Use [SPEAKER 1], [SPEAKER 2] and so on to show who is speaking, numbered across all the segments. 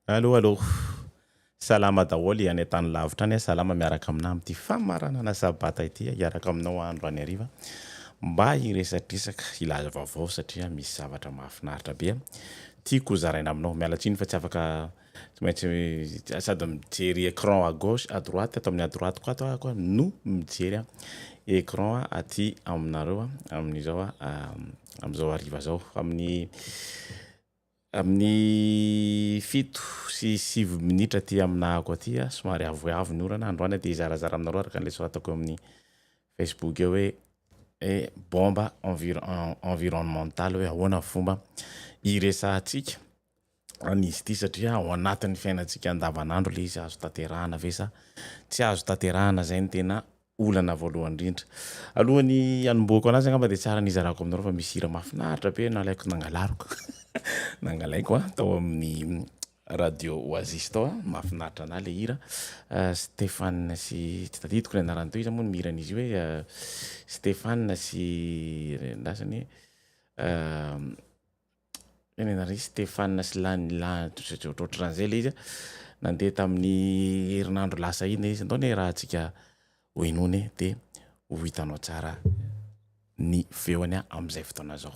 [SPEAKER 1] Allo allo. Salama daholo any an-tany lavitra any, salama miaraka aminao amin'ity famaranana sabata ity hiaraka aminao andro any hariva mba hiresadresaka hilaza vaovao satria misy zavatra mahafinaritra be tiako ho zaraina aminao. Miala tsiny fa tsy afaka tsy maintsy sady mijery écran à gauche à droite ato amin'ny à droite ko ato aho no mijery écran aty aminareo amin'izao amin'izao hariva zao amin'ny Amin'ny fito sy sivy minitra aty aminahako aty, somary avoavo ny orana, androany dia hizarazara aminareo araka an'ilay soratako eo amin'ny Facebook eo hoe bomba environnementale hoe ahoana ny fomba hiresahantsika an'izy ity satria ao anatin'ny fiainantsika andavanandro ilay izy, azo tanterahana ve sa tsy azo tanterahana izay no tena olana voalohany indrindra. Alohan'ny hanombohako anazy angamba dia tsara ny hizarako aminareo fa misy hira mahafinaritra be nalaiko nangalariko nangalaiko a tao amin'ny radio Oasis tao a, mahafinaritra anahy ilay hira Stéphane sy tsy tadidiko ny anarany teo, iza moa no mihira an'izy io hoe Stéphane sy ny an'ny lasa anie. Tenenina ry Stéphane sy lany ohatran'izay ilay izy a, nandeha tamin'ny herinandro lasa iny ilay izy, andao anie iarahantsika hohenoina e, dia ho hitanao tsara ny feony amin'izay fotoana izao.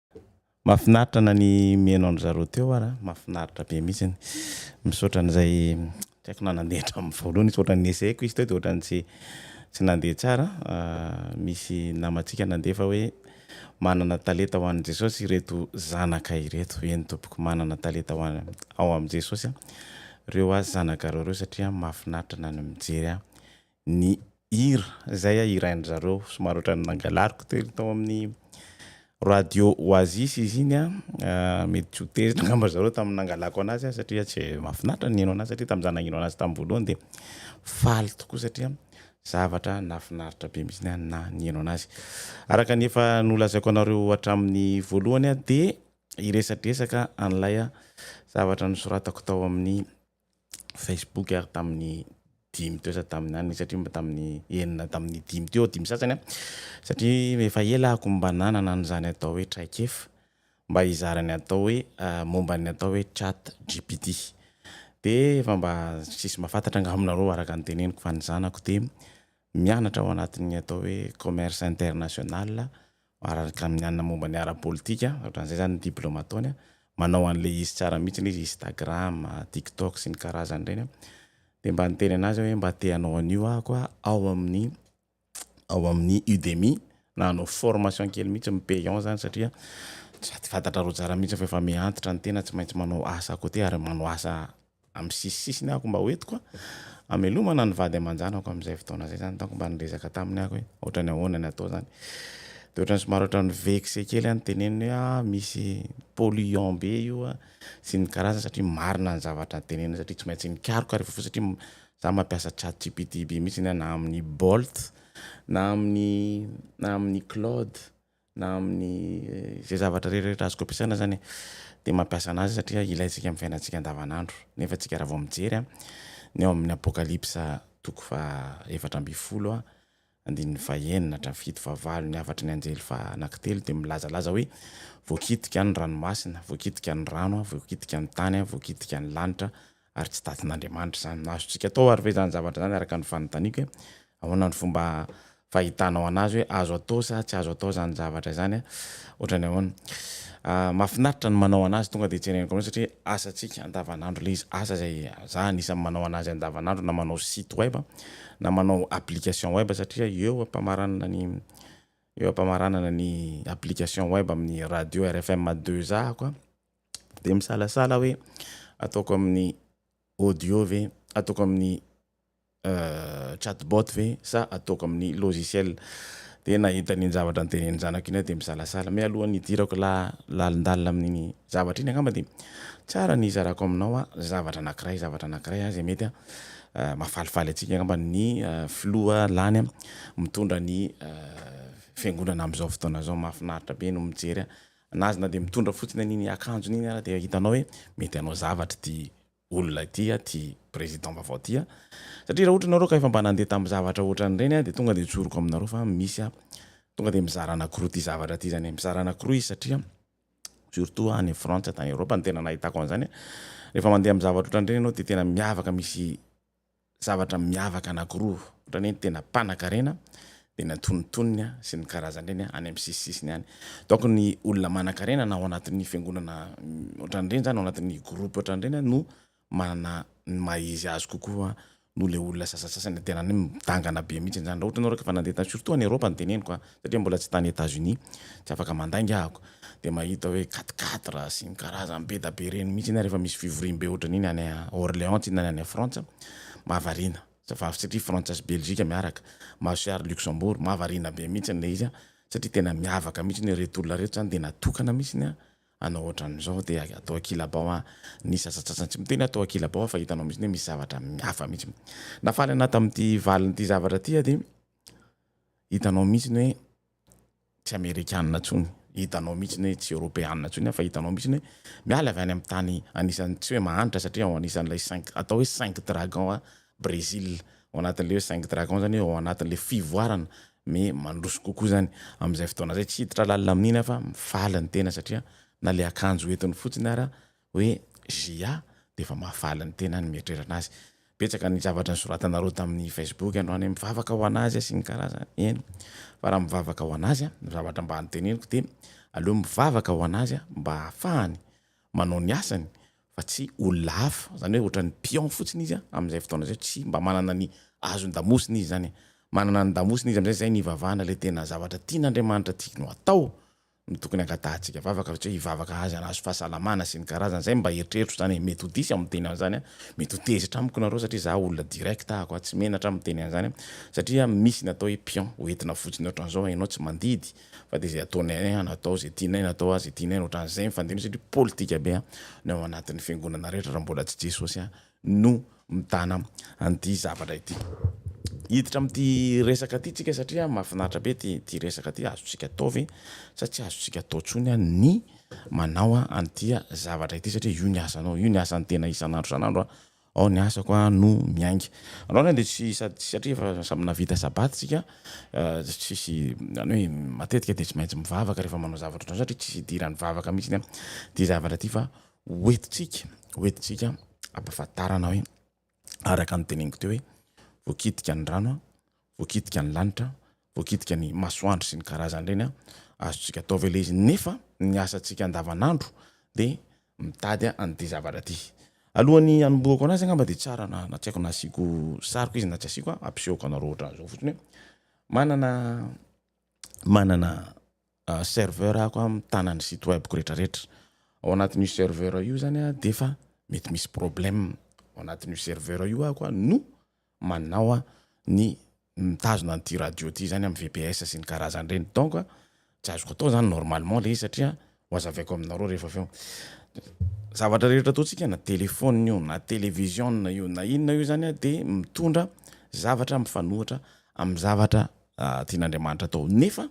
[SPEAKER 1] Mafinaritra na ny mihaino an-dry zareo teo ara, mafinaritra be mihitsiny. Misaotra an'izay, tsy haiko na nandeha hatramin'ny voalohany izy fa ohatran'ny nesehiko izy teo dia ohatran'ny tsy tsy nandeha tsara. Misy namantsika nandefa hoe manana talenta ho an'i Jesosy ireto zanaka ireto. Eny tompoko, manana talenta ho an- ao amin'i Jesosy ireo azy zanakareo ireo satria mahafinaritra na ny mijery ahy. ny hira izay hirain-dry zareo, somary ohatran'ny nangalariko teo tao amin'ny radio Oasis izy iny an, mety tsy ho tezitra angamba ry zareo tamin'ny nangalako an'azy aho satria tsy mahafinaritra ny nihaino an'azy satria tamin'izaho nagnino an'azy tamin'ny voalohany dia faly tokoa satria zavatra nahafinaritra be mihitsy aho naha nihaino an'azy. Araka ny efa nolazaiko anareo hatramin'ny voalohany aho dia hiresadresaka an'ilay zavatra nosoratako tao amin'ny Facebook ary tamin'ny dimy teo sady tamin'ny aniny satria mba tamin'ny enina tamin'ny dimy teo dimy sasany a satria efa ela ako mba nanana an'izany atao hoe traikefa mba hizara ny atao hoe momba ny atao hoe chat GPT de efa mba tsisy mba fantatra angamba aminareo araka ny teneniko fa ny zanako de mianatra ao anatin'ny atao hoe commerce international Araraka ny mianina momba ny ara-politika, ohatran'izay izany ny diplaoma ataony, manao an'ilay izy tsara mihitsy ilay izy, Instagram, TikTok sy ny karazany ireny. Dia mba niteny an'azy aho hoe mba te hanao an'io aho koa ao amin'ny ao amin'ny Udemy na hanao formation kely mihitsy mi payant izany satria sady fantatra roa jara mihitsy fa efa mihantitra ny tena tsy maintsy manao asa à côté ary manao asa amin'ny sisisisiny aho ko mba hoentiko a amelomana ny vady aman-janako amin'izay fotoana izay zany donc mba nirezaka taminy aho hoe ohatrany ahoana ny atao zany de ohatrany somary ohatrany vexé kely aho niteneniny hoe ah misy polluant be io a sy ny karazany satria marina ny zavatra niteneniny satria tsy maintsy nikaroka ary vaovao satria za mampiasa chat gpt be mihitsy na amin'ny bolt na amin'ny na amin'ny claude na amin'ny izay zavatra rehetrarehetra azoko ampiasaina zany de mampiasa anazy satria ilaintsika amin'ny fiainantsika andavanandro nefa tsika raha vao mijery an ny ao amin'ny apokalypsa toko fa efatra ambin'ny folo a andininy fa enina hatramin'ny fito fa valo ny hafatry ny anjely fa anakitelo de milazalaza hoe voakitika ny ranomasina voakitika ny rano a voakitika ny tany a voakitika ny lanitra Ary tsy datin'Andriamanitra izany no azontsika atao ary ve izany zavatra izany araka ny fanontaniako hoe ahoana no fomba fahitanao an'azy hoe azo atao sa tsy azo atao izany zavatra izany a? Ohatrany ahoana? Mahafinaritra ny manao an'azy tonga dia tsereniko amin'izao satria asantsika andavan'andro ilay izy, asa izay za anisan'ny manao an'azy andavan'andro na manao site web na manao application web satria eo ampamaranana ny eo ampamaranana ny application web amin'ny radio rfm deux a ko a. dia misalasala hoe ataoko amin'ny audio ve, ataoko amin'ny chat bot ve sa ataoko amin'ny logiciel. Dia nahita an'iny zavatra notenenin'ny zanako iny aho dia misalasala. Mialohan'ny hidirako lalindalina amin'iny zavatra iny angamba dia tsara ny hizarako aminao zavatra anankiray, zavatra anankiray izay mety mahafalifaly antsika angamba ny filoha lany mitondra ny fiangonana amin'izao fotoana izao. Mahafinaritra be no mijery na aza na dia mitondra fotsiny an'iny akanjony iny ara dia hitanao hoe mety hanao zavatra ity olona ity a, ity président vaovao ity a, satria raha ohatra ianareo ka efa mba nandeha tamin'ny zavatra ohatran'ireny a dia tonga dia tsoriko aminareo fa misy a, tonga dia mizara anakiroa ity zavatra ity zany e, mizara anakiroa izy satria surtout any Frantsa tany Europe no tena nahitako an'izany a, rehefa mandeha amin'ny zavatra ohatran'ireny ianao dia tena miavaka misy zavatra miavaka anankiroa, ohatran'ny hoe ny tena mpanan-karena dia ny antonontonony sy ny karazan'ireny any amin'ny sisisisiny any. Donc ny olona manan-karena na ao anatin'ny fiangonana ohatran'ireny izany, ao anatin'ny groupe ohatran'ireny no manana ny maha izy azy kokoa noho ilay olona sasantsasany tena hoe midangana be mihitsy izany. Raha ohatra ianao raha ka efa nandeha tany, surtout any Eropa no teneniko an, satria mbola tsy tany Etats Unis tsy afaka mandainga ahako dia mahita hoe quatre quatre sy ny karazany be da be ireny mihitsy ny ahy rehefa misy fivoriam be ohatran iny any Orléans tsinona any any Frantsa mahavariana satria Frantsa sy Belgique miaraka Mahazo sary Luxembourg mahavariana be mihitsy ilay izy satria tena miavaka mihitsy ny reto olona reto zany dia natokana mihitsy ny hanao ohatran izao dia atao an-kilabao an ny sasatsasany tsy miteny aho atao an-kilabao aho fa hitanao mihitsy hoe misy zavatra hafa mihitsy nahafaly anahy tamin'ity valiny ity zavatra ity aho dia Hitanao mihitsiny hoe tsy Amerikana intsony, hitanao mihitsiny hoe tsy Eoropeana intsony aho fa hitanao mihitsiny hoe miala avy any amin'ny tany anisan'ny tsy hoe mahantra satria ao anisan'ilay cinq, atao hoe cinq dragons a Brésil, ao anatin'ilay hoe cinq dragons izany hoe ao anatin'ilay fivoarana mais mandroso kokoa izany. Amin'izay fotoana izay tsy hiditra lalina amin'iny aho fa mifaly ny tena satria na ilay akanjo entiny fotsiny ara hoe JA dia efa mahavaly ny tenany mieritrerana azy. Betsaka ny zavatra nisoratanareo tamin'ny Facebook androany hoe mivavaka ho an'azy sy ny karazany. Eny, fa raha mivavaka ho an'azy, ny zavatra mba noteneniko dia aleo mivavaka ho an'azy mba hahafahany manao ny asany fa tsy olona hafa, izany hoe ohatran'ny pion fotsiny izy amin'izay fotoana izay, tsy mba manana ny azon-damosina izy izany. Manana ny damosina izy amin'izay, izay ny hivavahana ilay tena zavatra tian'Andriamanitra tiany ho atao. no tokony angatahantsika vavaka satria hivavaka azy hanazo fahasalamana sy ny karazany zay mba eritreritro zany e mety ho diso aho miteny an'zany a mety ho tezitra amiko nareo satria za olona direct ahako a tsy menatra aho miteny an'zany a satria misy ny atao hoe pion ho entina fotsiny otran'zao hainao tsy mandidy fa de zay ataonay any an atao zay tianay na atao azy tianay otran'zay mifandimby satria politika be a ny ao anatin'ny fiangonana rehetra raha mbola tsy jesosy a no mitana an'ity zavatra ity. Hiditra amin'ity resaka ity tsika satria mahafinaritra be ity ity resaka ity, azontsika atao ve sa tsy azontsika atao intsony an ny manao an an'ity zavatra ity satria io ny asanao, io ny asan'ny tena isan'andro isan'andro an, ao ny asako an no miainga. Androany an dia tsy sady satria efa samy nahavita sabata isika dia tsisy zany hoe matetika dia tsy maintsy mivavaka rehefa manao zavatra ohatran'izao satria tsisy idiran'ny vavaka mihitsiny an ity zavatra ity fa hoentintsika hoentintsika ampahafantarana hoe araka ny teneniko teo hoe voakitika ny rano a, voakitika ny lanitra, voakitika ny masoandro sy ny karazany ireny a, azontsika atao ve le izy? Nefa ny asantsika andavanandro de mitady an'ity zavatra ty. Alohan'ny hanombohako anazy angamba de tsara na na tsy haiko na asiako sariko izy na tsy asiako a, ampisehoko anareo ohatran'izao fotsiny hoe manana manana serveur ako a mitana ny site web ko retraretra ao anatin'io serveur io zany a defa mety misy problème ao anatin'io serveur io ako a no manao a ny mitazona an'ity radio ty zany am VPS sy ny karazany reny donc a tsy azoko atao zany normalement le izy satria ho azavaiko aminareo refa aveo zavatra rehetra ataontsika na telephone io na television io na inona io zany a de mitondra zavatra mifanohitra am zavatra tian'Andriamanitra atao nefa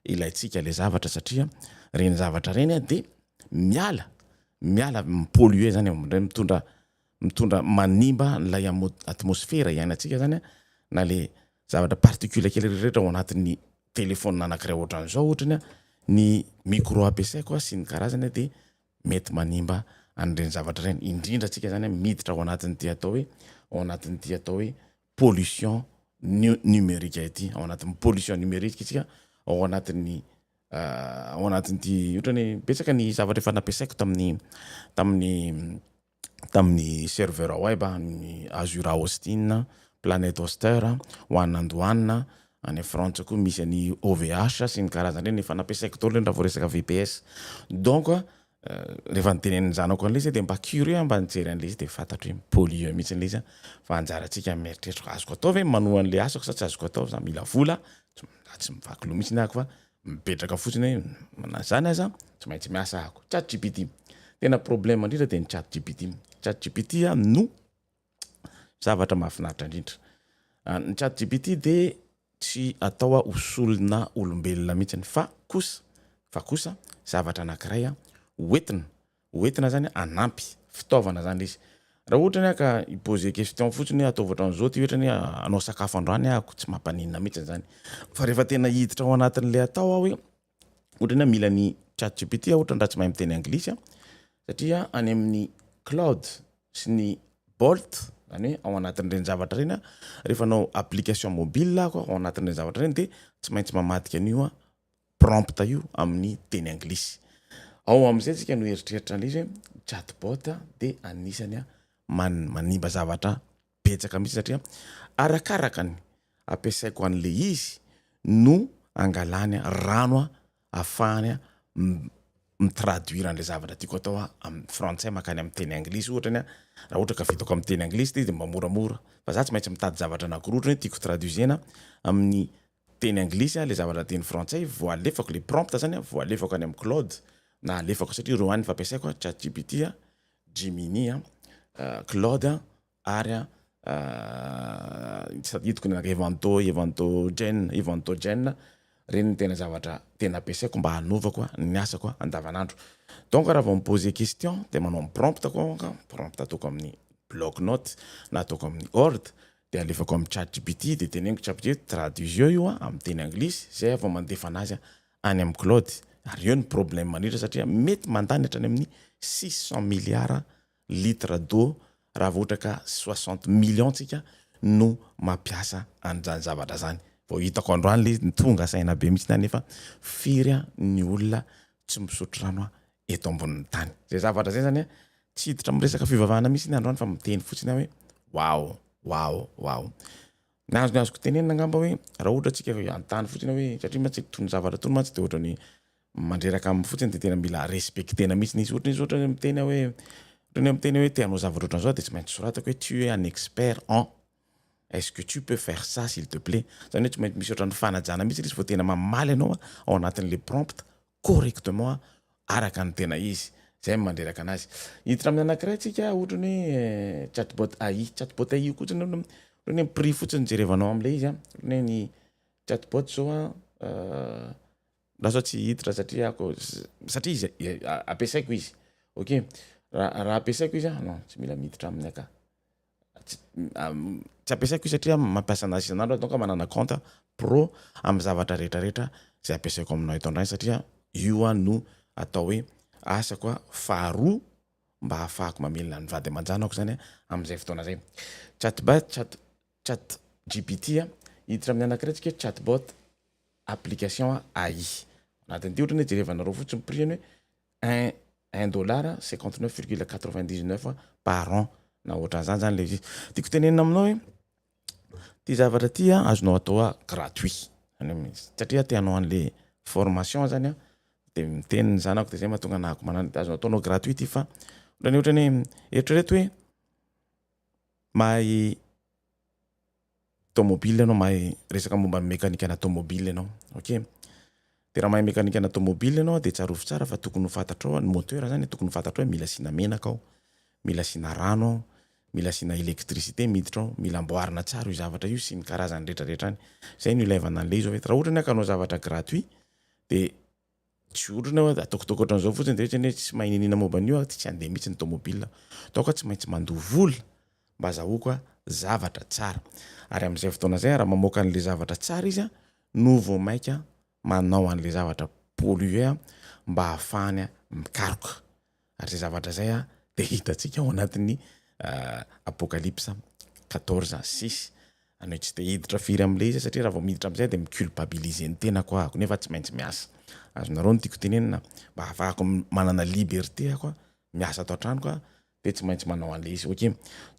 [SPEAKER 1] ilaintsika le zavatra satria reny zavatra reny de miala miala mi-polluer zany amindray mitondra mitondra manimba an'ilay amo- atmosfera iainantsika zany a na le zavatra particule kely rehetra ao anatin'ny telephone anankiray ohatran'izao ohatra ny hoe ny micro ampiasaiko a sy ny karazany a de mety manimba an'ireny zavatra ireny indrindra antsika zany a miditra ao anatin'ity atao hoe ao anatin'ity atao hoe pollution numerique ity, ao anatin'ny pollution numerique isika, ao anatin'ny ao anatin'ity ohatran'ny hoe betsaka ny zavatra efa nampiasaiko tamin'ny tamin'ny tamin'ny serveur web an'ny Azure Hosting, Planet Hoster, one and one, any Frantsa koa misy an'i OVH sy ny karazany ireny efa nampiasaiko daholo ireny raha vao resaka VPS, donc. rehefa nitenenin'ny zanako an'ilay izy aho dia mba curieux aho mba nijery an'ilay izy dia fantatro hoe mi-polluer mihitsy ilay izy an! fa anjarantsika ny mieritreritra hoe azoko atao ve ny manohy an'ilay asako sa tsy azoko atao za mila vola za tsy mivaky loha mihitsy ahako fa mipetraka fotsiny hoe na izany aza tsy maintsy miasa ahako. Chat gpt, tena problème indrindra dia ny chat gpt, chat gpt no zavatra mahafinaritra indrindra. Ah, ny chat GPT dia tsy atao ah, ho solona olombelona mihitsy fa kosa fa kosa zavatra anankiray ah, hoentina hoentina zany hanampy fitaovana zany izy raha ohatra ny ka i-poser question fotsiny hoe ataovy ohatran'izao ity ohatra ny hanao sakafo androany ahako tsy mampaninona mihitsy zany fa rehefa tena hiditra ao anatin'ilay atao aho hoe Ohatrany aho mila ny chat gpt aho ohatrany raha tsy mahay miteny anglisy aho satria any amin'ny cloud sy ny bolt zany hoe ao anatin'ireny zavatra ireny aho, rehefa hanao application mobile aho ka ao anatin'ireny zavatra ireny dia tsy maintsy mamadika an'io aho, prompte io amin'ny teny anglisy. Ao amin'izay isika no hieritreritra an'ilay izy hoe chat bot dia anisany man- manimba zavatra. betsaka mihitsy satria arakaraka ny ampiasaiko an'le izy no angalany rano a afahany a mi-traduire an'le zavatra tiako atao a amin'ny frantsay makany amin'ny teny anglisy ohatra ny a raha ohatra ka vitako amin'ny teny anglisy le izy de mba moramora fa za tsy maintsy mitady zavatra anakiroa ohatra hoe tiako traduisena amin'ny teny anglisy ilay zavatra teny frantsay vao alefako ilay prompt zany vao alefako any amin'ny cloud na alefako satria ireo ihany no fampiasaiko a, chat gpt a, gemini a, cloud a, ary a tadidiko ny anankiray evanto, evanto gen, evanto gen, ireny no tena zavatra tena ampiasaiko mba hanaovako ny asako andavanandro donc raha vao mi-poser question de manao ny prompt ko aho, prompt ataoko amin'ny bloc note na ataoko amin'ny word, Dia alefako amin'ny chat gpt dia teneniko chat gpt traduisio io amin'ny teny anglisy izay aho vao mandefa anazy any amin'ny claude ary eo ny problème mandrindra satria mety mandany hatrany amin'ny six cent milliards litres d'eau raha vao ohatra ka soixante millions tsika no mampiasa an'izany zavatra izany vao hitako androany ilay izy tonga saina be mihitsy aho nefa firy ny olona tsy misotro rano eto ambonin'ny tany. Zay zavatra zay zany tsy hiditra amin'ny resaka fivavahana mihitsy androany fa miteny fotsiny aho hoe waoo waoo waoo. Ny azony azoko tenenina angamba hoe raha ohatra tsika hanontany fotsiny hoe satria mantsy itony zavatra itony mantsy de ohatrany mandreraka aminy fotsiny de tena mila respectena mihitsy izy ohatrany izy ohatra hoe miteny aho hoe ohatrany aho miteny hoe te hanao zavatra ohatran'izao de tsy maintsy soratako hoe tu es un expert en Est ce que tu peux faire ça s'il te plait? Zany hoe tsy maintsy misy ohatran'ny fanajana mihitsy ilay izy vao tena mamaly anao ao anatin'ilay prompt correctement araka ny tena izy. Zay no mandreraka anazy. Hiditra amin'ny anankiray tsika ohatran'ny hoe chatbot AI. Chatbot AI io koa ohatran'ny hoe ohatran'ny hoe prix fotsiny jerevanao amin'ilay izy an. Ohatran'ny hoe ny chatbot zao an lasa tsy hiditra satria ako satria izy ampiasaiko izy. Ok. Raha raha ampiasaiko izy an non tsy mila miditra aminy aka. tsy ampiasaiko io satria mampiasa anazy isan'andro aho donc manana compte pro amin'ny zavatra rehetra rehetra zay ampiasaiko aminao eto an-dragno satria io aho no atao hoe asako aho faharoa mba hahafahako mamelona ny vady aman-janako zany amin'izay fotoana zay chat bot chat chat GPT a hiditra amin'ny anankiray tsika hoe chat bot application AI anatin'ity ohatra ny hoe jerevanareo fotsiny prix-ny hoe un un dollar cinquante neuf virgule quatre vingt dix neuf par an na ohatran'izany zany ilay izy. Tiako tenenina aminao hoe ity zavatra ity azonao atao gratuit zany hoe satria te hanao an'ilay formation zany aho dia miteny ny zanako dia izay mahatonga anah akomanana an'io dia azonao ataonao gratuit ity fa ohatran'ny ohatran'ny hoe eritrereto hoe mahay Tômôbily ianao mahay resaka momba ny mekanika ana tômôbily ianao ok de raha mahay mekanika ana tômôbily ianao de tsarovy tsara fa tokony ho fantatrao ny moteur zany tokony ho fantatrao hoe mila asiana menaka ao mila asiana rano ao mila asiana électricité miditra ao mila amboarina tsara io zavatra io sy ny karazany retraretra any zay no ilaivana an'le izy raha ohatra ny hoe ka hanao zavatra gratuit de Tsy otrona hoe ataoko ataoko ohatran'izao fotsiny dia ohatrany hoe tsy mahay niniana momba an'io aho dia tsy handeha mihitsy ny tomobilina. Ataoko aho tsy maintsy mandoa vola mba azahoako zavatra tsara. Ary amin'izay fotoana izay raha mamoaka an'ilay zavatra tsara izy no vao mainka manao an'ilay zavatra polluer mba hahafahany mikaroka. Ary izay zavatra izay dia hitantsika ao anatin'ny Apokalypsa quatorze à six. Anao tsy te hiditra firy amin'ilay izy aho satria raha vao miditra amin'izay dia mi-culpabiliser ny tenako aho, nefa tsy maintsy miasa. Azonareo ny tiako tenenina? Mba hahafahako manana liberté aho miasa ato an-tranoko dia tsy maintsy manao an'ilay izy. Okay.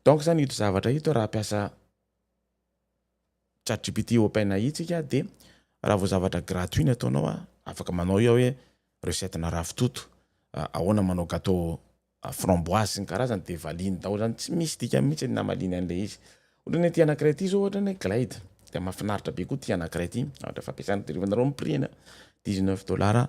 [SPEAKER 1] Donc izany ito zavatra ito raha hampiasa chat gpt open ai tsika de raha vao zavatra gratuit ny ataonao a afaka manao iao hoe recette na ravitoto ahoana manao gateau framboise sy ny karazany de valiny daholo zany tsy misy dikany mihitsy ny namaliany an'le izy ohatrany hoe ty anakiray ty zao ohatrany hoe glade de mafinaritra be koa ty anakiray ty ohatra fampiasana de rehefa nareo mipirina dix neuf dollars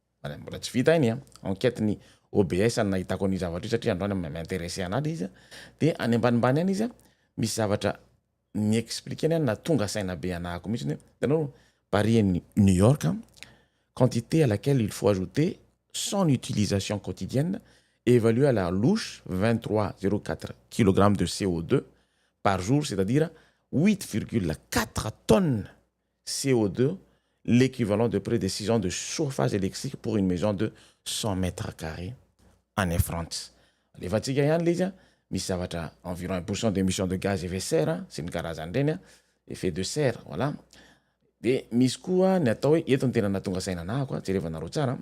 [SPEAKER 1] Mbola tsy vita iny enquete ny OBS any nahitako an'io zavatra io satria androany mi-interesse anah le izy a, de any ambanimbany any izy a misy zavatra mi-expliquer any nahatonga saina be anah ko mihitsiny hoe hitanao Paris et New York a quantité à laquelle il faut ajouter son utilisation quotidienne évaluée à la louche vingt trois zero quatre kilogramme de CO2 par jour c'est-à-dire huit virgule quatre tonnes CO2, l'équivalent de près de six ans de chauffage électrique pour une maison de cent mètres carrés any France. Alefantsika ihany ilay izy an! Misy zavatra environ un pour cent d'émission de gaz effet serre sy ny karazany ireny an! Effet de serre, voilà. Dia misy koa ny atao hoe, eto no tena nahatonga saina anahako an! Jerevanareo tsara an!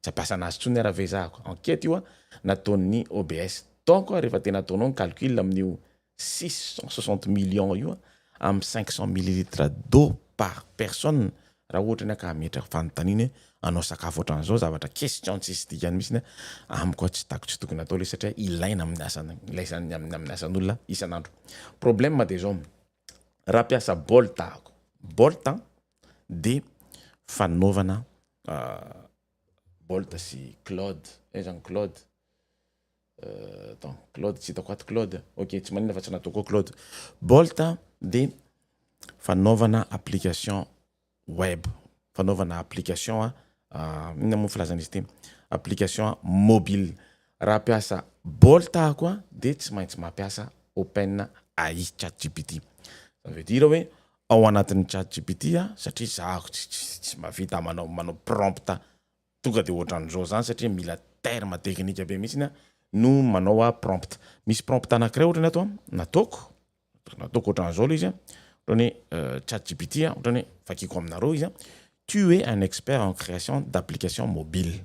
[SPEAKER 1] Tsy abasana azy tsony ara vezahako. Enquete io a nataon'ny OBS. Donc a refa tena ataonao ny calcul amin'io six cent soixante millions io a am cinq cent millilitres d'eau par personne raha ohatra ny ahy ka hametraka fanontaniana hoe hanao sakafo otran'zao zavatra question tsisy dikany mitsiny a amiko a tsy tako tsy tokony atao le satria ilaina amin'ny asana ilaisan'ny amin'ny amin'ny asan'olona isan'andro. Problème de zao raha mpiasa bolt aho bolt a dia fanaovana Bolt sy Claude, aiza any Claude? attends Claude tsy hitako ato Claude, ok tsy maninona fa tsy nataoko ao Claude, Bolt dia fanaovana application web, fanaovana application inona moa ny filazana izy ity? application mobile, raha hampiasa Bolt aho koa dia tsy maintsy mampiasa Open AI, chat gpt, ça veut dire hoe ao anatin'ny chat gpt a satria za tsy mavita manao manao prompt tonga de ohatran'izao zany satria mila terme teknika be mihitsiny a no manao a prompt misy prompt anakiray ohatrany ato a nataoko nataoko ohatran'izao le izy a ohatrany hoe chat gpt a ohatrany hoe vakiko aminareo izy a tu es un expert en création d'application mobile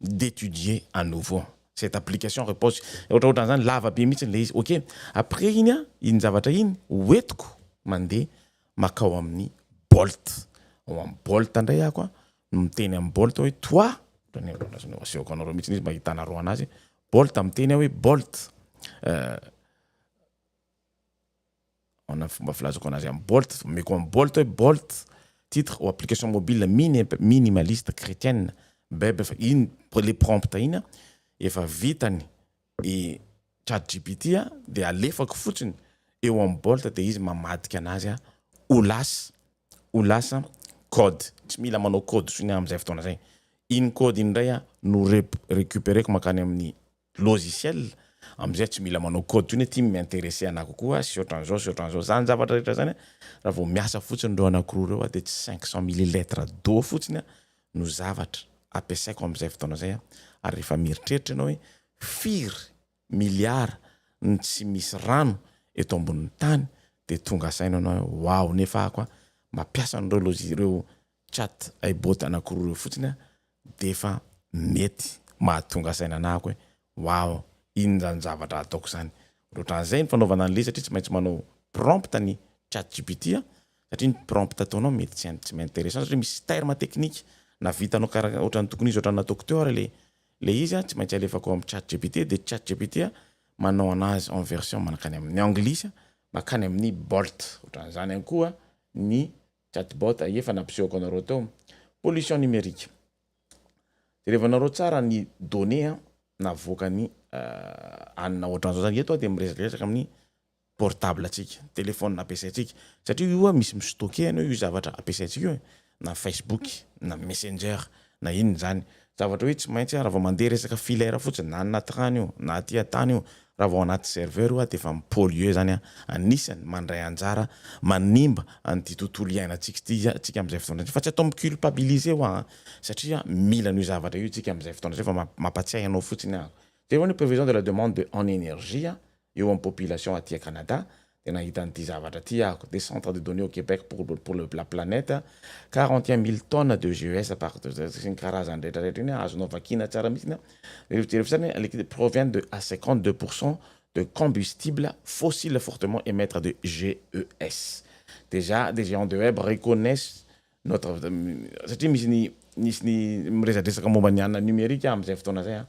[SPEAKER 1] d'étudier à nouveau cette application repose ohatraohatran zany lava be mihitsy ilay izy ok après iny an iny zavatra iny ho entiko mandeha makao amin'ny bolt ao amin'ny bolt indray ako an no miteny amin'ny bolt aho hoe toi asehoko anareo mihitsy izy mba hitanareo anazy bolt miteny aho hoe bolt Ahoana ny fomba filazako anazy amin'ny Bolt? Omeko an'i Bolt hoe Bolt, titre ou application mobile mini- minimaliste chretienne, beb efa iny le prompt iny an, efa vitany i chat gpt an, dia alefako fotsiny eo amin'ny Bolt dia izy mamadika anazy an, ho lasa, ho lasa code, tsy mila manao code intsony amin'izay fotoana izay, iny code iny indray an no rep- recupereko mankany amin'ny. logiciel amzay tsy mila manao code tsony hoe ty mi-interesse anah kokoa sy otranzao sy otranzao zany zavatra rehetra zany a raha vao miasa fotsiny reo anakiroa reo a de tsy cinq cent milliletre d'eau fotsiny a no zavatra ampiasaiko amzay fotoana zay a ary rehefa mieritreritra enao hoe firy milliard no tsy misy rano eto ambonin'ny tany de tonga saina enao hoe waouh nefa ako a mampiasa an'reo logi- reo Chat ay bot anakiroa reo fotsiny defa mety mahatonga saina anako e waoo inona zany zavatra ataoko zany otranzay ny fanaovana anle satria tsy maintsy manao prompt ny chat gpt satria ny prompt ataonao mety tsy tsy m'interessant satria misy terme technique na vitanao karaha otran'ny tokony izy otran'ny nataoko teo ary le le izy tsy maintsy alefako am chat gpt de chat gpt manao anazy en version manakany amin'ny anglisy makany amin'ny bolt otranzany any koa ny Chatbot a efa nampisehoako anareo teo. Pollution numérique. Jerevanareo tsara ny données a navoakan'i anona ohatran'izao zany. Eto aho dia miresadresaka amin'ny portable antsika, telephone ampiasaintsika. Satria io a misy mi-stocker an'io io zavatra ampiasaintsika io e. Na Facebook, na messenger, Na inona izany. Zavatra hoe tsy maintsy aho raha vao mandeha resaka filaire fotsiny, na any anaty rano io, na aty an-tany io, raha vao anaty serveur io aho dia efa mi-polluer izany aho. Anisany mandray anjara manimba an'ity tontolo iainantsika ity isika amin'izay fotoana izay. Fa tsy atao mi-culpabiliser hoa an! Satria mila an'io zavatra io isika amin'izay fotoana izay fa mampatsiahy anao fotsiny aho. Jereo ny prévision de la demande de en énergie. eo amin'ny population aty à Canada dia nahita an'ity zavatra ity aho, des centres de données au Québec pour le pour la planète, quarante et un mille tonnes de GES par sy ny karazany rehetra rehetra iny azonao vakiana tsara mihitsy an, jereo jereo fotsiny an, liquide provient de à cinquante deux pour cent de combustibles fossiles fortement emettre de GES déjà des géants de web reconnaissent notre satria misy ny nisy ny miresadresaka momba ny anona numerique aho amin'izay fotoana izay an,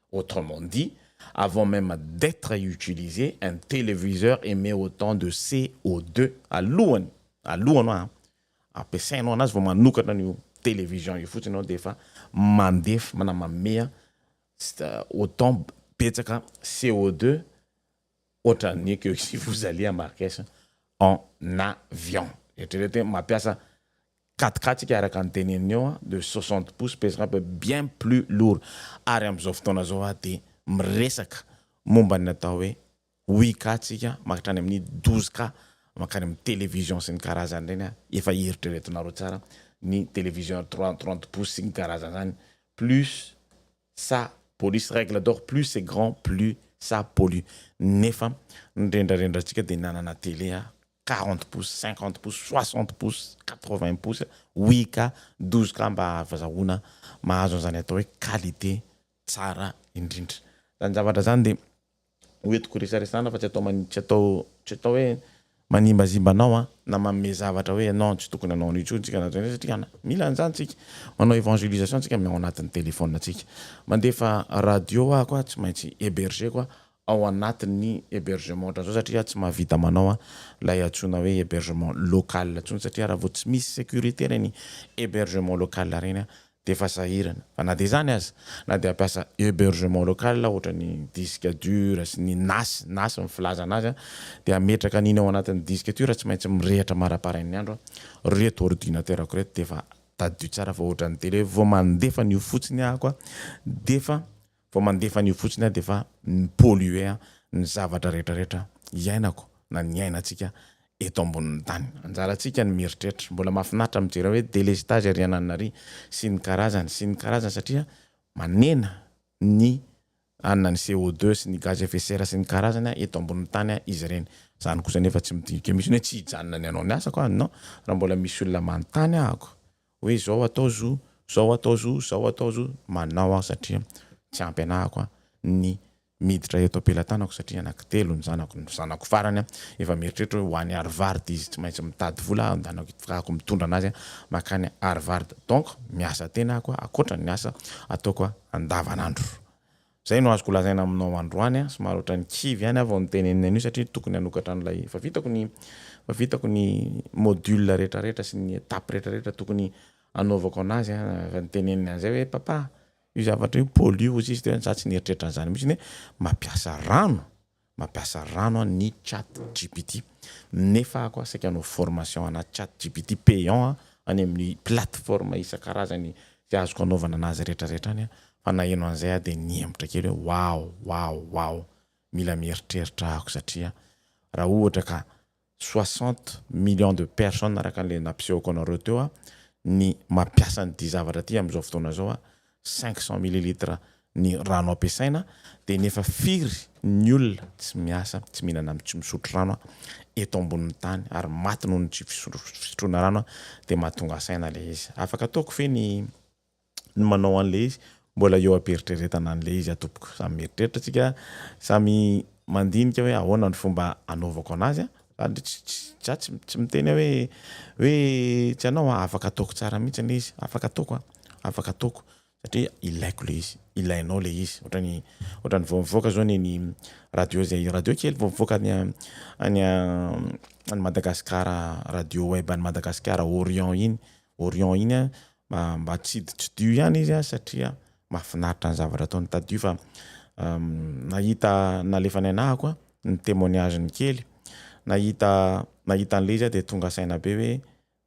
[SPEAKER 1] Autrement dit, avant même d'etre utilisé, un téléviseur émet autant de CO2 alohany, alohany hoa an, ampiasainao anazy vao manokatra an'io télévision io fotsiny ianao dia efa mandef, na mameha autant betsaka CO2 ohatran'ny que si vous allez à Marrakech en avion. Eritrereto hoe mampiasa Quatre quatre ika araka ny teneniny eo an, de soixante pouces pesera be bien plus lourd ary amin'izao fotoana izao aho dia miresaka momba ny atao hoe huit K tsika manktrany amin'ny douze K mankany amin'ny television sy ny karazany ireny an, efa eritreretonareo tsara ny television trois trente pouces sy ny karazany izany plus ça pollus, règle d'or plus c'est grand plus ça pollue nefa ny rendrarendra antsika dia nanana tele aho. quarante pouces, cinquante pouces, soixante pouces, quatre vingt pouces, oui ka, douze ka mba ahazahoana mahazo an'izany atao hoe qualité tsara indrindra. Izany zavatra izany dia hoentiko resaresana fa tsy atao man- tsy atao tsy atao hoe manimbazimba anao an, na manome zavatra hoe non tsy tokony hanao an'io intsony tsika na zany satria ana, mila an'izany tsika, manao evangelisation tsika amin'ny ao anatin'ny telephone tsika, mandefa radio aho koa tsy maintsy heberger-ko aho ao anatin'ny hebergement ohatran'izao satria tsy mahavita manao ilay antsoina hoe hebergement local intsony satria raha vao tsy misy sécurité ireny hebergement local ireny dia efa sahirana fa na dia izany aza na dia hampiasa hebergement local ohatran'ny disc dur sy ny nas nas ny filazana azy dia hametraka an'iny ao anatin'ny disc dur tsy maintsy mirehitra maraparain'ny andro ireto ordinateur-ko ireto dia efa tadidio tsara fa ohatran'ny télé vao mandefa an'io fotsiny aho dia efa Vao mandefa an'io fotsiny aho dia efa mi-polluer ny zavatra rehetra rehetra iainako na niainantsika eto ambonin'ny tany. Anjarantsika ny mieritreritra. Mbola mahafinaritra mijery hoe délestage ery anananary sy ny karazany sy ny karazany satria manena ny anona ny CO deux sy ny gaz à effet serre sy ny karazany eto ambonin'ny tany izy ireny. Izany kosa anefa tsy midika mihitsy hoe tsy hijanona ny hanao ny asako aho non raha mbola misy olona manontany ahako hoe zao atao zo, zao atao zo, zao atao zo, manao aho satria tsy ampy anahako ny miditra eto am-pelatanako satria anaky telo ny zanako, ny zanako farany efa mieritreritra hoe ho any Harvard izy, tsy maintsy mitady vola aho handehanako hitakako mitondra anazy makany Harvard, donc miasa tena aho koa ankoatra ny asa ataoko andavanandro. Izay no azoko lazaina aminao androany a, somary ohatran'ny kivy ihany aho vao nitenenina an'io satria tokony hanokatra an'ilay efa vitako ny efa vitako ny module rehetrarehetra sy ny étape rehetrarehetra tokony hanaovako an'azy a, efa niteneniny an'izay hoe papa io zavatra io pollue hozy izy teo hoe za tsy nieritreritra an'izany mihitsy hoe mampiasa rano Mampiasa rano an ny chat gpt nefa aho koa saika hanao formation ana chat gpt payant a any amin ny plateforme isankarazany izay azoko anaovana anazy rehetra rehetra any a fa naheno an'izay aho dia nihemotra kely hoe waouh waouh waouh mila mieritreritra ahako satria raha ohatra ka soixante millions de personnes araka an'ilay nampisehoko anareo teo a, ny mampiasa an'ity zavatra ity amin'izao fotoana izao a, cinq cents millilitres ny rano ampiasaina dia ny efa firy ny olona tsy miasa, tsy mihinana am, tsy misotro rano a, eto ambonin'ny tany ary maty noho ny tsy fisotroana rano a, dia mahatonga saina ilay izy. Afaka ataoko ve ny. ny manao an'ilay izy, mbola eo am-pieritreretana an'ilay izy tompoko, samy mieritreritra tsika, samy mandinika hoe ahoana ny fomba anaovako anazy an, sady tsy tsy za tsy tsy miteny aho hoe hoe tsy anao an, afaka ataoko tsara mihitsy ilay izy, afaka ataoko an, afaka ataoko satria ilaiko ilay izy, ilainao ilay izy, ohatran'ny ohatran'ny vao mivoaka zao neny radio zay radio kely vao mivoaka any any any Madagasikara radio web any Madagasikara Orion iny, Orion iny an, Mba tsy hiditridio ihany izy an, satria mahafinaritra ny zavatra ataon'i Tadio fa nahita nalefan'i Ainaha koa ny témoignage-ny kely, nahita nahita an'ilay izy aho dia tonga saina be hoe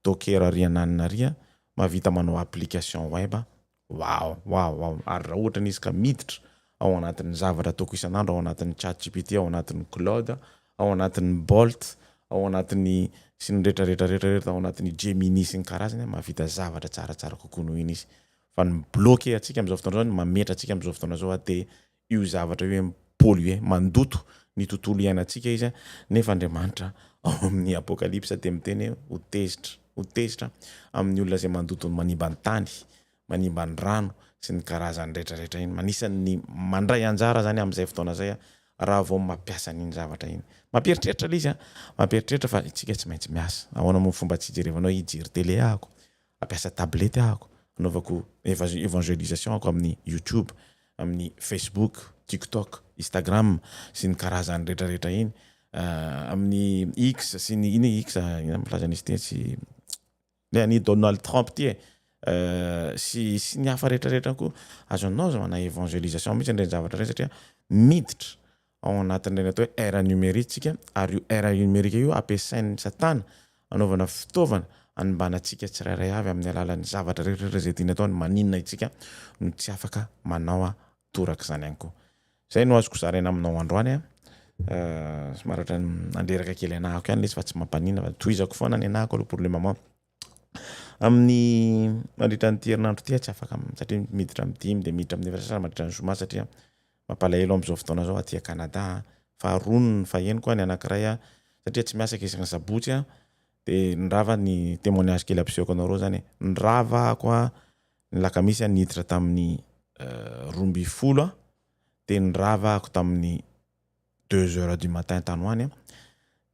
[SPEAKER 1] Docker ary anà anona ary an, mahavita manao application web an, wow wow wow, ary raha ohatra ny izy ka miditra ao anatin'ny zavatra ataoko isan'andro ao anatin'ny chat gpt, ao anatin'ny claude, ao anatin'ny Bolt, ao anatin'ny sy ny rehetra rehetra rehetra rehetra, ao anatin'ny Gemini sy ny karazany an, mahavita zavatra tsaratsara kokoa noho iny izy. Fa ny mi-bloquer antsika amin'izao fotoana izao, ny mametra antsika amin'izao fotoana izao an, dia io zavatra io hoe mi-polluer, mandoto ny tontolo iainantsika izy an, nefa Andriamanitra ao amin'ny Apokalypsa dia miteny hoe ho tezitra, ho tezitra amin'ny olona izay mandoto manimba ny tany, manimba ny rano sy ny karazany rehetra rehetra iny manisany ny mandray anjara zany amizay fotoana zay a raha vao mapiasa an'iny zavatra iny mampieritreritra le izy a mampieritreritra fa itsika tsy maintsy miasa ahoana moa ny fomba tsy ijerevanao hijery tele ahako ampiasa tablette ahako anaovako evangelisation ahako amin'ny youtube amin'ny facebook tiktok instagram sy ny karazany rehetra rehetra iny amin'ny x sy ny iny x ina milaza an'izy tetsy Ny an'i Donald Trump ity e! sy sy ny hafa rehetra rehetra koa azo anao manao evangelisation mihitsy an'ireny zavatra ireny satria miditra ao anatin'ireny atao hoe ère numérique tsika ary io ère numérique io ampiasain'ny satana anaovana fitaovana hanimbana antsika tsirairay avy amin'ny alalan'ny zavatra rehetra rehetra izay tiany atao ny maninona itsika no tsy afaka manao torak'izany ihany koa Zay no azoko zaraina aminao androany a. Somary ohatran'ny nandreraka kely anahako ihany lesy fa tsy mampaninona fa tohizako foana ny anahako aloha problème mao. Amin'ny mandritra an'ity herinandro ity tsy afaka satria miditra amin'ny dimy dia miditra amin'ny efatra sasany mandritra ny zoma satria mampalahelo amin'izao fotoana izao aty Canada faharoa ny fahenoko ny anankiray a satria tsy miasa isaky ny sabotsy a dia ny rava ny témoignage kely ampisehoko anareo zany ny rava ako a Ny lakamisy aho niditra tamin'ny roa ambin'ny folo aho dia nirava ako tamin'ny deux heures du matin tany ho any aho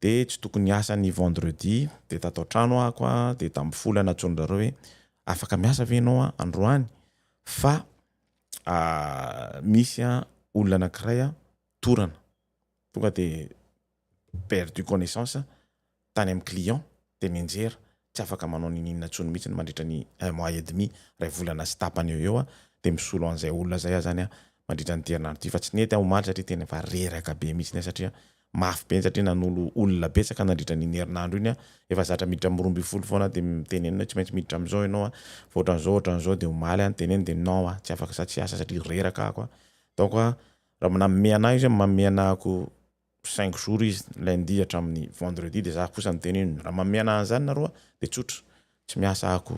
[SPEAKER 1] dia tsy tokony hiasa ny vendredi dia tato an-trano ako a dia tamin'ny folo aho nantsoin dry zareo hoe afaka miasa ve ianao a androany fa misy a olona anankiray a torana tonga dia perdue connaissance tany amin'ny client dia mianjera tsy afaka manao ninininona intsony mihitsy mandritra ny un mois et demi, iray volana sy tapany eo eo aho dia misolo an'izay olona izay aho izany aho mandritra an'ity herinandro ity fa tsy nety aho omaly satria tena efa reraka be mihitsy aho satria mafy be satria nanolo olona betsaka nandritra an'iny herinandro iny aho efa zatra miditra amin'ny roa ambin'ny folo foana aho dia mitenenina hoe tsy maintsy miditra amin'izao ianao fa ohatran'izao ohatran'izao dia omaly aho nitenenina dia non aho tsy afaka sady tsy hiasa satria reraka ako aho donc raha manome an'ahy izy hoe manome an'ako cinq jours izy, lundi hatramin'ny vendredi, dia za kosa niteny hoe raha manome anah an'izany nareo dia tsotra, tsy miasa ako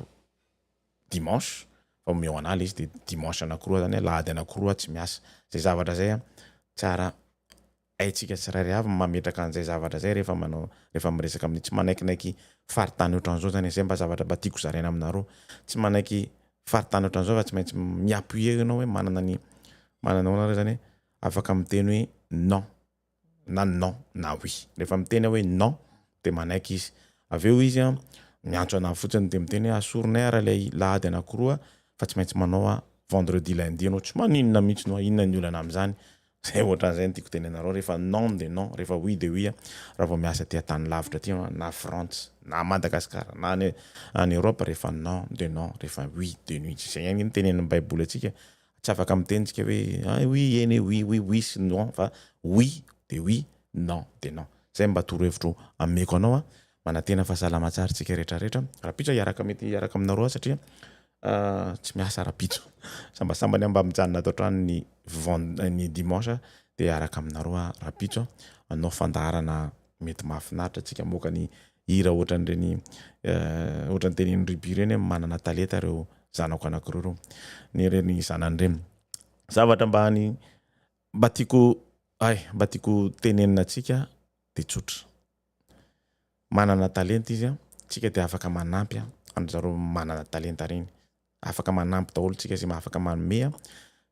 [SPEAKER 1] dimanche fa omeo anah le izy dia dimanche anakiroa zany, alahady anakiroa aho tsy miasa, zay zavatra zay an tsara haintsika tsirairay avy ny mametraka an'izay zavatra zay rehefa manao rehefa miresaka amin'ny tsy manaiknaiky faritany ohatran'izao zany e, zay mba zavatra mba tiako zaraina aminareo, tsy manaiky faritany ohatran'izao fa tsy maintsy mi-appuie enao hoe manana ny manana ahoana re zany hoe Afaka miteny hoe non na non na oui. Rehefa miteny aho hoe non dia manaiky izy. Avy eo izy miantso anah fotsiny dia miteny hoe asorinay ary ilay lahady anankiroa fa tsy maintsy manao aho vendredi lundi ianao tsy maninona mihitsy no inona ny olana amin'izany. Izay ohatran'izay no tiako hotenenanareo rehefa non dia non rehefa oui dia oui raha vao miasa aty an-tany lavitra aty ianao na Frantsa na Madagasikara na any Europe rehefa non dia non rehefa oui dia oui. Izay ihany no tenenin'ny baiboly antsika Tsy afaka miteny tsika hoe ay oui eny e, oui oui oui sy non fa oui de oui, non de non. Zay mba torohevitro ameko anao a. Manantena fa salama tsara tsika rehetra rehetra. Rapitso hiaraka mety hiaraka aminareo aho satria tsy miasa rapitso. Sambasambany aho mba mijanona ato an-trano ny ven- ny dimanche de hiaraka aminareo aho rapitso a. Hanao fandaharana mety mahafinaritra tsika mamoaka ny Hira ohatran'ireny ohatran'ny tenenin'i Ruby ireny hoe manana talenta ireo zanako anankiroa ireo. Ny ireny zanany ireny. Zavatra mba any mba tiako ay mba tiako tenenina antsika dia tsotra. Manana talenta izy a, tsika dia afaka manampy an-dry zareo manana talenta ireny. Afaka manampy daholo tsika izay afaka manome a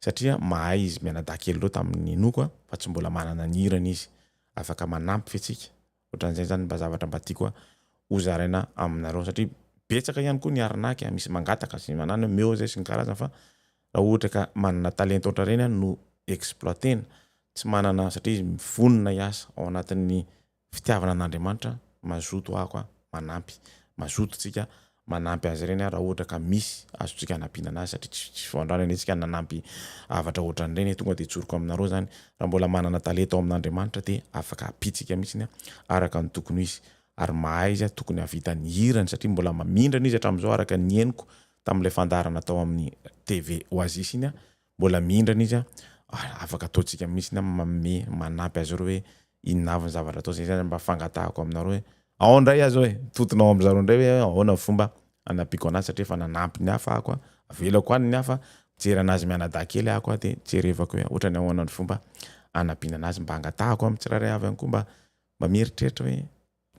[SPEAKER 1] satria mahay izy mianadahy kely ireo tamin'ny ninoako a fa tsy mbola manana ny hirany izy. Afaka manampy ve tsika? Ohatran'izay zany mba zavatra mba tiako hozaraina aminareo satria betsaka ihany koa ny arnaque a, misy mangataka sy manana hoe meo zay sy ny karazany fa raha ohatra ka manana talenta ohatran'ireny a no exploiter-na, tsy manana satria izy vonona hiasa ao anatin'ny fitiavana an'Andriamanitra, mazoto ako a, manampy, mazoto tsika manampy azy ireny raha ohatra ka misy azontsika hanampiana anazy satria tsy tsy voandrany anie tsika nanampy avatra ohatran'ireny tonga de tsoriko aminareo zany raha mbola manana talenta ao amin'Andriamanitra de afaka hampitsika mihitsiny a araka ny tokony ho izy ary mahay izy a tokony hahavita ny hirany satria mbola mamindrana izy hatramin'izao araka ny henoko tamin'ilay fandaharana tao amin'ny TV Oasis iny a mbola mihindrana izy an, afaka ataontsika mihitsy ny manome manampy azy ireo hoe inona avy ny zavatra atao, zay zany mba fangatahako aminareo hoe ao indray aza hoe tontona ao amin'izareo indray hoe ahoana ny fomba hanampiako anazy satria efa nanampy ny hafa ako, avelako any ny hafa, mijery anazy mianadahy kely ako dia jerevako hoe ohatrany ahoana ny fomba hanampiana anazy, mba angatahako amin'ny tsirairay avy ihany koa mba mba mieritreritra hoe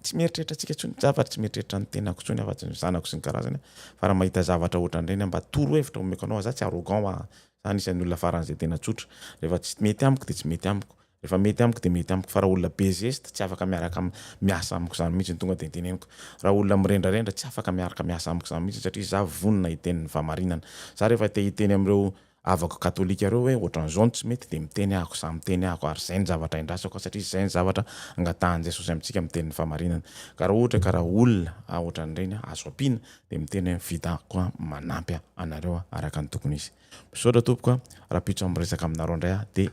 [SPEAKER 1] Tsy mieritreritra antsika intsony za fa tsy mieritreritra ny tenako intsony aho fa tsy ny zanako sy ny karazany aho fa raha mahita zavatra ohatran'ireny aho mba toro hevitra omeko anao aho, za tsy arrogant hoa, za anisan'ny olona faran'izay tena tsotra, rehefa tsy mety amiko de tsy mety amiko, rehefa mety amiko de mety amiko fa raha olona be zesta tsy afaka miaraka am miasa amiko zany mihitsy no tonga de teneniko, raha olona mirendrarendra tsy afaka miaraka miasa amiko zany mihitsy satria za vonona hiteny ny fahamarinana, za rehefa te hiteny am'ireo Havako katolika reo hoe ohatran'izao no tsy mety dia miteny ahako za miteny ahako ary zay ny zavatra endrasako satria zay ny zavatra angatahan'i Jesosy amintsika miteny ny famarinana ka raha ohatra ka raha olona a ohatran'ireny a azo ampiana dia miteny hoe vita ko a manampy a anareo a araka ny tokony izy. Misaotra tompoko a rapitso am resaka aminareo indray aho dia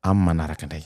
[SPEAKER 1] am manaraka indray.